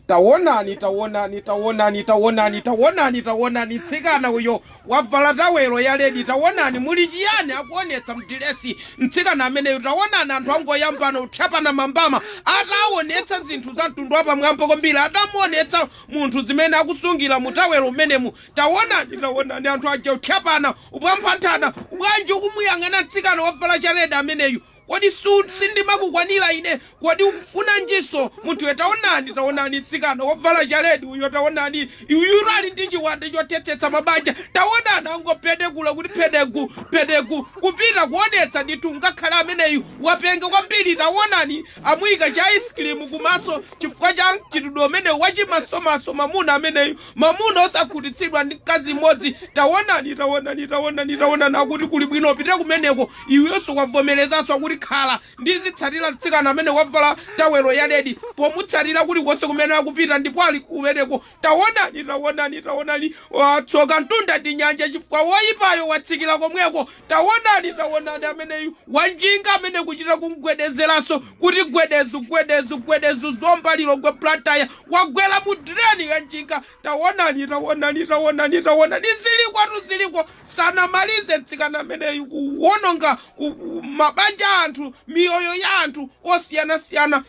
tawonani tawonani tawonani tawonani tawonani tawonani mtsikana uyo wavala tawelo ya ledi tawonani muli chiyani akuonetsa mdilesi mtsikana ameneyo tawonani anthu angoyambana kutchapana mambama ataonetsa zinthu za mtundu wapamwamba kwambiri atamuonetsa munthu zimene akusungira mu tawelo umenemu tawonani tawonani anthu aja kutchapana kuphwamphanthana bwanji ukumuyang'ana mtsikana wavala cha ledi ameneyu Kodi sindimakukwanira ine? Kodi ukufunanjinso? Munthu iwe, Taonani, taonani, mtsikana wavala chaledi uyo, taonani, uyutu ali ndi chiwanda chothetsetsa mabanja. Taonani, angopedekula kuti pedeku, pedeku, kupita kuonetsa ndithu ngakhale ameneyu wapenga kwambiri. Taonani, amuyika cha ice cream kumaso chifukwa cha mchitidwe umenewu wa chimasomaso mamuna ameneyu. Mamuna osakhutitsidwa ndi mkazi m'modzi, tawonani, tawonani, tawonani, tawonani, akuti kuli bwino upite kumeneko, iyeyonso wavomerezanso, kuti khala, ndizitsatira mtsikana amene wavala tawelo ya ledi, pomutsatira kulikonse kumene akupita, ndipo ali kumeneko, tawonani, tawonani, tawonani, watsoka mtunda ndi nyanja, chifukwa woyipayo watsikira komweko, tawonani, tawonani, ameneyu wanjinga, amene kuchita kumgwedezeranso, kuti gwedezu gwedezu gwedezu zomba lilongwe blantyre wagwera mu direni ya njinga tawonani tawonani tawonani tawonani zilikotu ziliko sanamalize mtsikana ameneyu kuwononga ku- ku- mabanja a anthu miyoyo ya anthu osiyanasiyana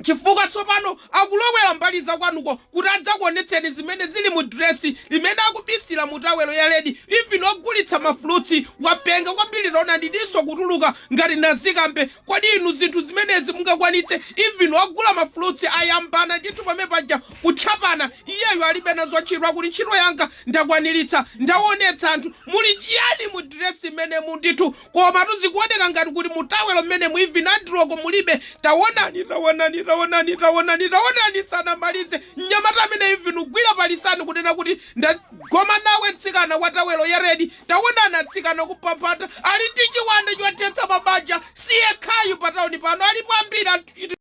chifukwa tsopano akulowera mbali zakwanuko kuti adzakuonetseni zimene zili mu diresi limene akubisira mu tawelo ya ledi even ogulitsa mafulutsi wapenga kwambiri taonani diso kutuluka ngati nazikambe Kodi inu zinthu zimenezi mungakwanitse even ogula ma fruits ayambana ndithu pamenepaja kutchapana iyeyu alibe nazo ntchito akuti ntchito yanga ndakwaniritsa ndawonetsa anthu muli chiyani mu dress imenemo ndithu komatu zikuwoneka ngati kuti mu towel mmenemu even andiroko mulibe tawonani tawonani tawonani tawonani tawonani sanamalize mnyamata amene even kugwira pa lisani kunena kuti ndagoma nawe mtsikana wa tawel ya red Taonani atsikana kuphaphata ali ndi chiwanda chothetsa mabanja, siyekhayu pa town pano alipo ambiri.